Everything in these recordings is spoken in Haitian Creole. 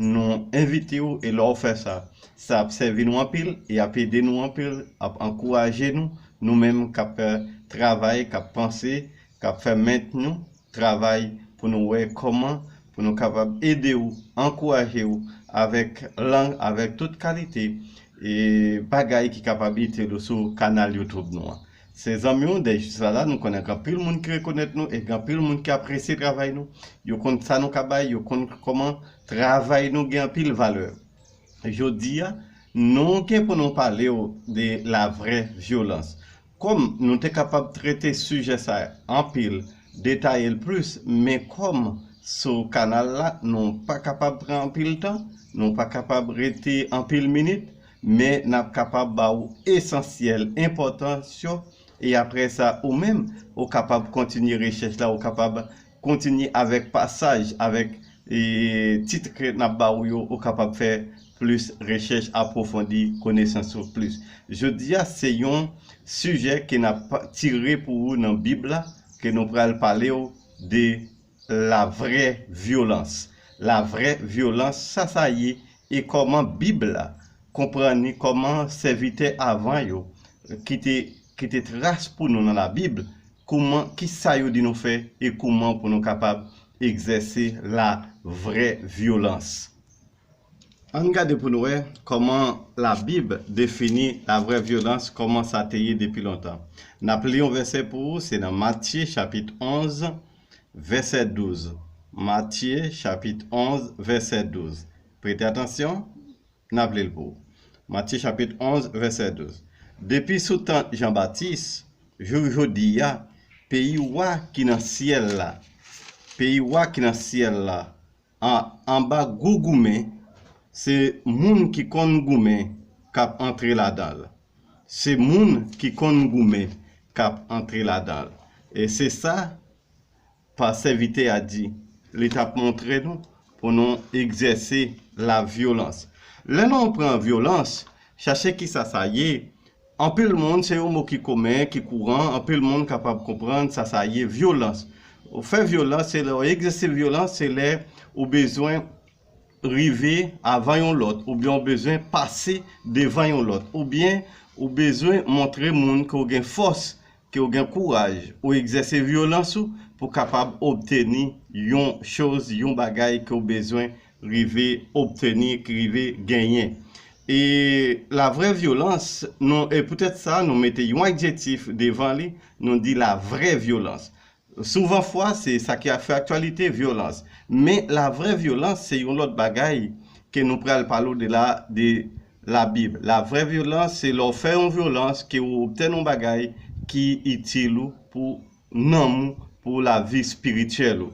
Nou envite w e lè w fè sa, sa ap sèvi nou anpil e ap ede nou anpil, ap ankouraje nou, nou menm k ap fè travay, k ap panse, k ap fè ment nou travay pou nou wè kòman pou nou kapab ede w, ankouraje w avèk lang, avèk tout kalite bagay ki kapab itil ou sou kanal YouTube nou an. Se zanmi w dèy jis la la, nou konnen gen anpil moun ki rekonèt nou e gen anpil moun ki apresye travay nou. Yo konn sa nou ka bay, yo konn kòman travay nou gen anpil valè. Jodi a, nou gen pou nou pale w de la vrè vyolans. Kòm nou te kapab trete sijè sa anpil, detaye l plis, men kòm sou kanal la nou pa kapab pran anpil tan, nou pa kapab rete anpil minit, Men n ap kapab ba ou esansyèl, enpòtans yo, e apre sa ou menm ou kapab kontinye rechèch la, ou kapab kontinye avèk pasaj, avèk tit ke n ap ba ou yo, ou kapab fè plis rechèch, apwofondi konesans ou plis. Jodi a se yon sijè ke n ap tire pou ou nan Bib la, ke nou pral pale ou de La vrè vyolans. La vrè vyolans, sa sa ye e kòman Bib la konprann li, kòman sèvitè avan yo ki te kite tras pou nou nan Labib, kouman, ki sa yo di nou fè e kouman pou nou kapab egzèse la vrè vyolans. An n gade pou n wè kòman Labib defini la vrè vyolans, kòman sa te ye depi lontan. N ap li yon vèsè pou ou, se nan Matye chapit 11. vèsè 12 Matye chapit 11 vèsè 12 Prete atansyon, n ap li l pou ou Matye chapit 11 vèsè 12 Depi sou tan Jan Batis jouk jodi a peyi Wa ki nan syèl la peyi Wa ki nan syèl la Ah anba gou goumen se moun ki konn goumen kap antre ladanl se moun ki konn goumen kap antre ladanl e se sa pa sèvitè a di li tap montre nou pou nou egzèse la vyolans lè nou pran vyolans chache kisa sa ye Anpil moun, se yon mo ki komen, ki kouran, anpil moun kapab konprann sa sa ye, vyolans. Ou fè vyolans, se lè ou egzèse vyolans, se lè ou bezwen rive avan yon lòt, oubyen ou bezwen pase devan yon lòt, oubyen ou bezwen montre moun ke ou gen fòs, ke w gen kouraj ou egzèse vyolans ou pou kapab obteni yon choz, yon bagay ke w bezwen rive obteni, ki rive genyen. E la vrè vyolans, nou, e poutèt sa nou mete yon adjektif devan li, nou di la vrè vyolans. Souvan fwa se sa ki ap fè aktyalite, vyolans. Men la vrè vyolans se yon lòt bagay ke nou pral pale w de la de la bib. La vrè vyolans se lè w fè yon vyolans ke ou obtèn yon bagay ki itil ou pou nanm ou, pou la vi spirityèl ou.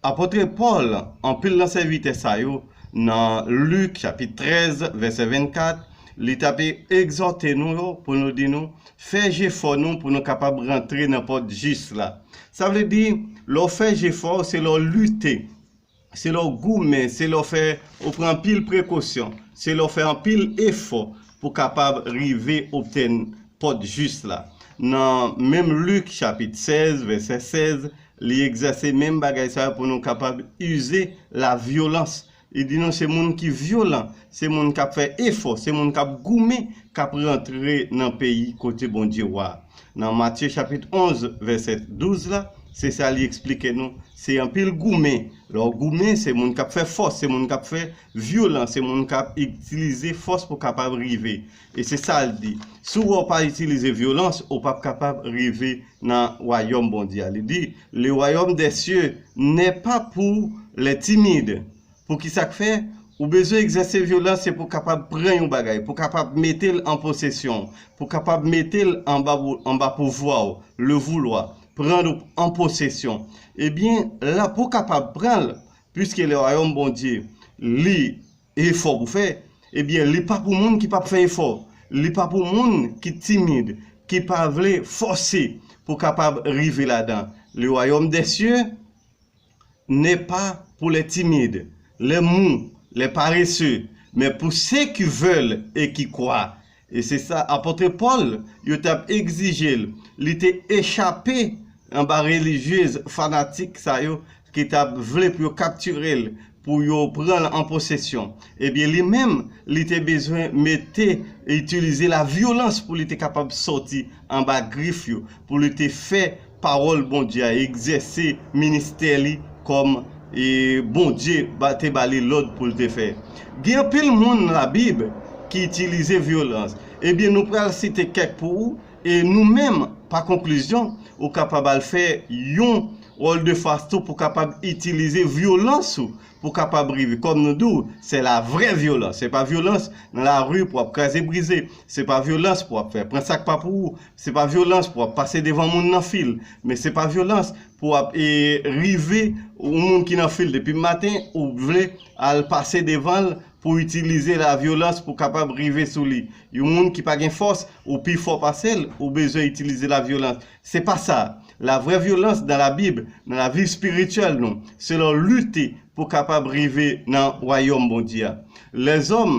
Apôtre Paul, anpil nan sèvitè sa yo, nan Luc chapit 13 vèsè 24, li t ap egzòte nou yo pou nou di nou, fè jefò nou pou nou kapab rantre nan pòt jis la. Sa vle di, lè w fè jefò, se lè w lite, se lè w goumen, se lè w fè, ou pran anpil prekosyon, se lè w fè anpil efò pou kapab rive obtenn pòt jis la. Nan menm Luc chapit 16 vèsè 16, Li egzèse menm bagay sa yo pou nou kapab ize lavyolans. Li di nou se moun ki vyolan, se moun k ap fè efò, se moun k ap goumen k ap rantre nan peyi kote Bondye wa a. Nan Matye chapit 11, vèsè 12 la, se sa li esplike nou, se anpil goumen. Lè w goumen, se moun k ap fè fòs, se moun k ap fè vyolan, se moun k ap itilize fòs pou kapab rive. E se sa l di, Si w wè w pa itilize vyolans, ou pap kapab rive nan wayòm Bondye a. Li di, Le wayòm dè sye nè pa pou lè timid. Pou ki sa k fè? Ou bezwen egzèse vyolans se pou w kapab pran yon bagay, pou w kapab mete l an posesyon w, pou w kapab mete l anba pouvwa w, le vouloir, prendre en possession. Ebyen, la pou w kapab pran l, piske le wayòm Bondye li. Efò pou fè? Ebyen li pa pou moun ki pap fè efò, li pa pou moun ki timid, ki pa vle fòse pou kapab rive ladan. Le wayòm dè sye nè pa pou lè timid, lè mou, lè parese, men pou se ki vèl e ki kwa, E se sa Apôtre Paul yo t ap egzije l. Li te echape anba relijyez fanatik sa yo ki t ap vle pou yo kaptire l, pou yo pran l an posesyon. Ebyen li menm, li te bezwen mete, itilize lavyolans pou li te kapab sòti anba grif yo, pou li te fè Pawòl Bondye a, egzèse ministè li kòm Bondye te ba li lòd pou l te fè. Gen anpil moun nan Labib ki itilize vyolans. Ebyen, nou pral site kèk pou ou, e nou menm, pa konklizyon, ou kapab al fè yon wòldefas tou pou kapab itilize vyolans ou pou kapab rive. Kòm nou di w, se la vrè vyolans. Se pa vyolans nan lari pou w ap kraze brize. Se pa vyolans pou w ap fè pran sa k pa pou ou. Se pa vyolans pou ap pase devan moun nan fil, men se pa vyolans pou ap rive yon moun ki nan fil depi maten ou vle al pase devan l pou itilize la vyolans pou kapab rive sou li. Yon moun ki pa gen fòs, ou pi fò pase l, ou bezwen itilize la vyolans. Se pa sa. La vrè vyolans nan la Bib, nan la vi espirityèl nou, se lè w lite pou kapab rive nan wayòm Bondye a. Lèzòm.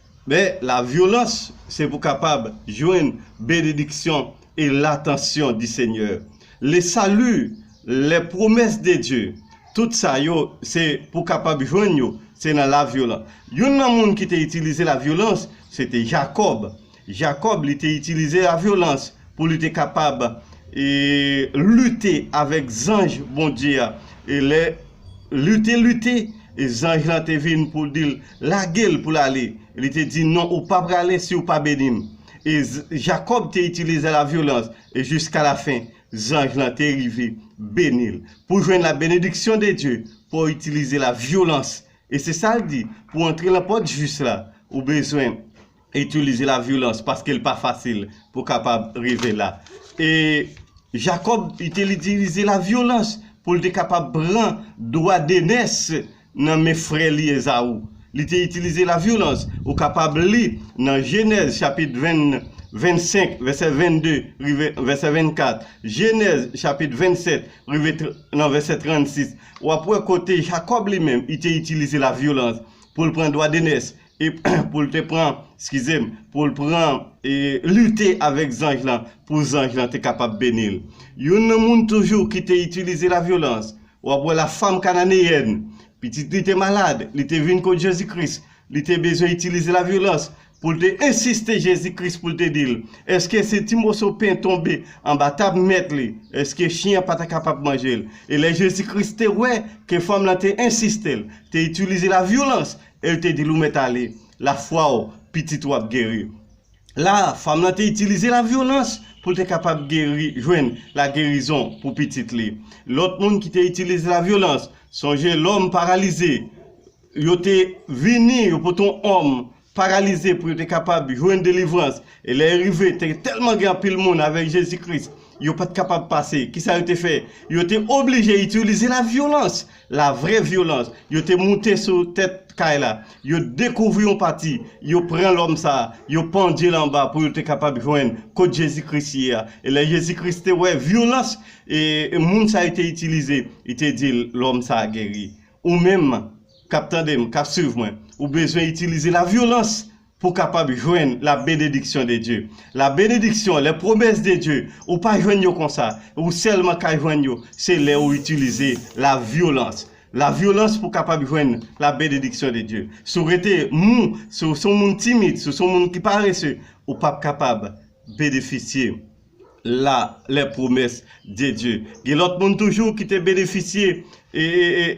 Men, la vyolans, se pou kapab jwenn benediksyon e latansyon di Senyè. Le sali, lè pwomès de Dye, tout sa yo, se pou kapab jwenn yo, se nan la vyolan. Youn nan moun ki te itilize la vyolans, se te Jakòb. Jakòb, li te itilize la vyolans pou li te kapab e lite avèk zanj Bondye a e lè Lite lite, e zanj lan te vin pou l di l, Lage l pou l ale. Li te di, Non, ou pa prale si ou pa beni m. E Jakòb te itilize lavyolans, e jiskalafen, zanj lan te rive beni l. Pou w jwenn labenediksyon de Dye, fò w itilize lavyolans. E se sa l di, Pou w antre lan pòt jis la, ou bezwen. Itilize la violans paske li pa fasil pou kapab rive la. E Jakòb itilitilize la violans pou li te kapab pran dwa denès nan men frè li Ezaou. Li te itilize la violans. Ou kapab li nan Jenèz chapit 25 vèsè 22 rive vèsè 24, Jenèz chapit 27 rive nan vèsè 36, w ap wè kote Jakòb li menm li te itilize la violans pou li pran dwa denès e pou l te pran, skize m, pou l pran e lite avèk zanj lan pou zanj lan te kapab beni l. Youn nan moun toujou ki te itilize lavyolans, w ap wè la fanm kananeyèn. Pitit li te malad, li te vin kot Jezi Kris, li te bezwen itilize lavyolans pou l te ensiste Jezi Kris pou l te di l, èske se ti moso pen tonbe anba tab mèt li, èske chyen an pa ta kapab manje l? E lè Jezi Kris te wè ke fanm lan te ensiste l te itilize lavyolans, E l te di l, Ou mèt ale, lafwa w, pitit ou ap geri. La a, fanm lan te itilize lavyolans pou l te kapab geri, jwenn lagerizon pou pitit li. Lòt moun ki te itilize lavyolans, sonje lòm paralize, yo te vini, yo pote yon òm paralize pou yo te kapab jwenn delivrans. E lè yo rive, te tèlman gen anpil moun avèk Jezi Kris, yo pa t kapab pase. Kisa yo te fè? Yo te oblije itilize lavyolans La vre vyolans. Yo te moute sou tèt kay la. Yo dekouvri yon pati. Yo pran lòm sa a. Yo pandye l anba pou yo te kapab jwenn kot Jezi Kris ye a. E lè Jezi Kris te wè vyolans e moun sa yo te itilize, li te di l, Lòm sa a geri. Ou menm k ap tande m, k ap suiv mwen, ou bezwen itilize lavyolans pou kapab jwenn la benediksyon de Dye. La benediksyon, les promesses de Dieu, ou pa jwenn yo konsa, ou sèlman ka jwenn yo se lè ou itilize la vyolans. La vyolans pou kapab jwenn la benediksyon de Dye. Si w rete mou, si w se yon moun timid, si w se yon moun ki parese, ou pap kapab benefisye la les promesses de Dieu gen lòt moun toujou ki te benefisye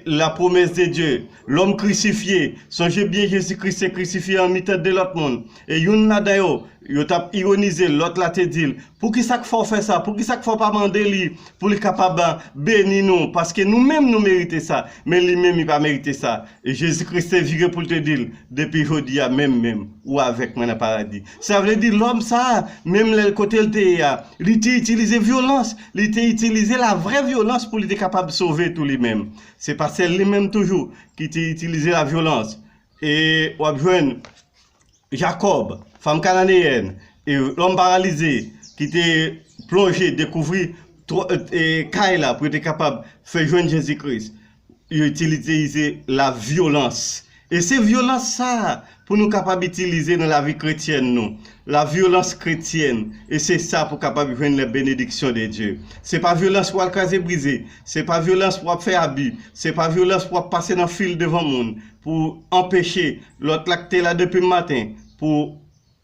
la promesse de Dieu l'homme crucifié sonje byen Jezi Kris te krisifye an mitan 2 lòt moun e youn ladan yo yo t ap ironize l lòt la te di l poukisa k fè w fè sa poukisa k fè w pa mande li pou li kapab beni nou paske nou menm nou merite sa men li menm li pa merite sa e Jezi Kris te vire pou l te di l depi jodi a menm menm ou avèk mwen nan paradi Sa vle di lòm sa a, menm lè l kote l te ye a, li te itilize vyolans, li te itilize la vrè vyolans pou li te kapab sove tou li menm. Se pa sèl li menm toujou ki te itilize la vyolans. E w ap jwenn Jakòb, fanm kananeyèn, e lòm paralize ki te plonje dekouvri kay la pou yo te kapab fè jwenn Jezi Kris. yo itiliteize la vyolans. E se vyolans sa a pou nou kapab itilize nan lavi kretyèn nou. La vyolans kretyèn. E se sa pou kapab jwenn lè benediksyon de Dye. Se pa vyolans pou al kraze brize. Se pa vyolans pou ap fè abi. Se pa vyolans pou ap pase nan fil devan moun pou anpeche lòt la k te la depi maten pou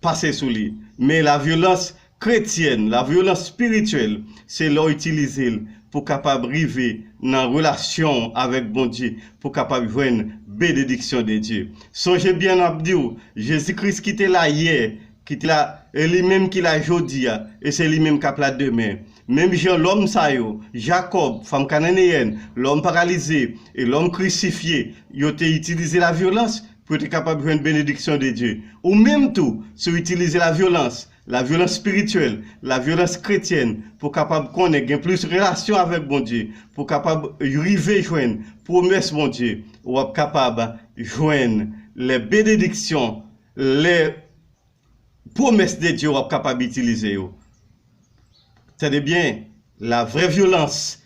pase sou li. Men lavyolans kretyèn, lavyolans spirityèl, se lè w itilize l pou kapab rive nan relasyon w avèk Bondye, pou kapab jwenn benediksyon de Dye. Sonje byen m ap di w, Jezi Kris ki te la yè, ki te la, e li menm ki la jodi a, e se li menm k ap la demen. Menm jan lòm sa yo, Jakòb, fanm kananeyèn, lòm paralize, e lòm krisifye, yo te itilize lavyolans, pou yo te kapab jwenn benediksyon de Dye. Ou menm tou, si w itilize lavyolans, lavyolans espirityèl, lavyolans kretyèn, pou w kapab konnen, gen plis relasyon avèk Bondye, pou w kapab rive jwenn pwomès Bondye, w ap kapab jwenn lè benediksyon, lè pwomès de Dye w ap kapab itilize yo. Tande byen, lavrè vyolans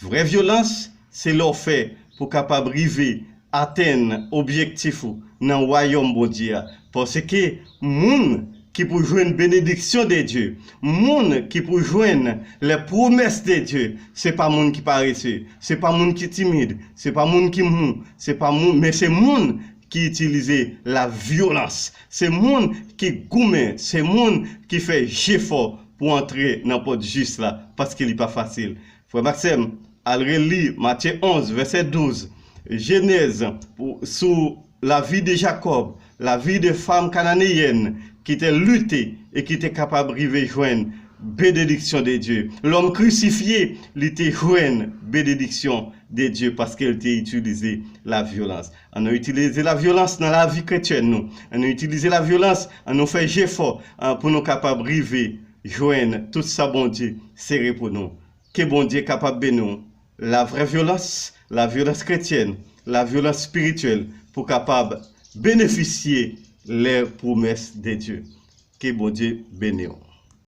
Vrè vyolans se lè w fè pou w kapab rive atenn objektif ou nan wayòm Bondye a, paske moun ki pou jwenn benediksyon de Dye, moun ki pou jwenn les promesses de Dieu, se pa moun ki parese, se pa moun ki timid, se pa moun ki mou, se pa moun, men se moun ki itilize la vyolans, se moun ki goumen, se moun ki fè jefò pou antre nan pòt jis la, paske li pa fasil. Frè m ak sè m, al reli Matye 11, vèsè 12, Jenèz, pou, sou lavi de Jakòb, lavi de fanm kananeyèn ki te lite e ki te kapab rive jwenn benediksyon de Dye. Lòm krisifye, li te jwenn benediksyon de Dye paske l te itilize lavyolans. An nou itilize lavyolans nan lavi kretyèn nou. An nou itilize lavyolans, an nou fè jefò pou nou kapab rive jwenn tout sa Bondye sere pou nou. Ke Bondye kapab beni w. Lavrè vyolans, lavyolans kretyèn, lavyolans spirityèl pou kapab benefisye lè pwomès de Dye. Ke Bondye beni w.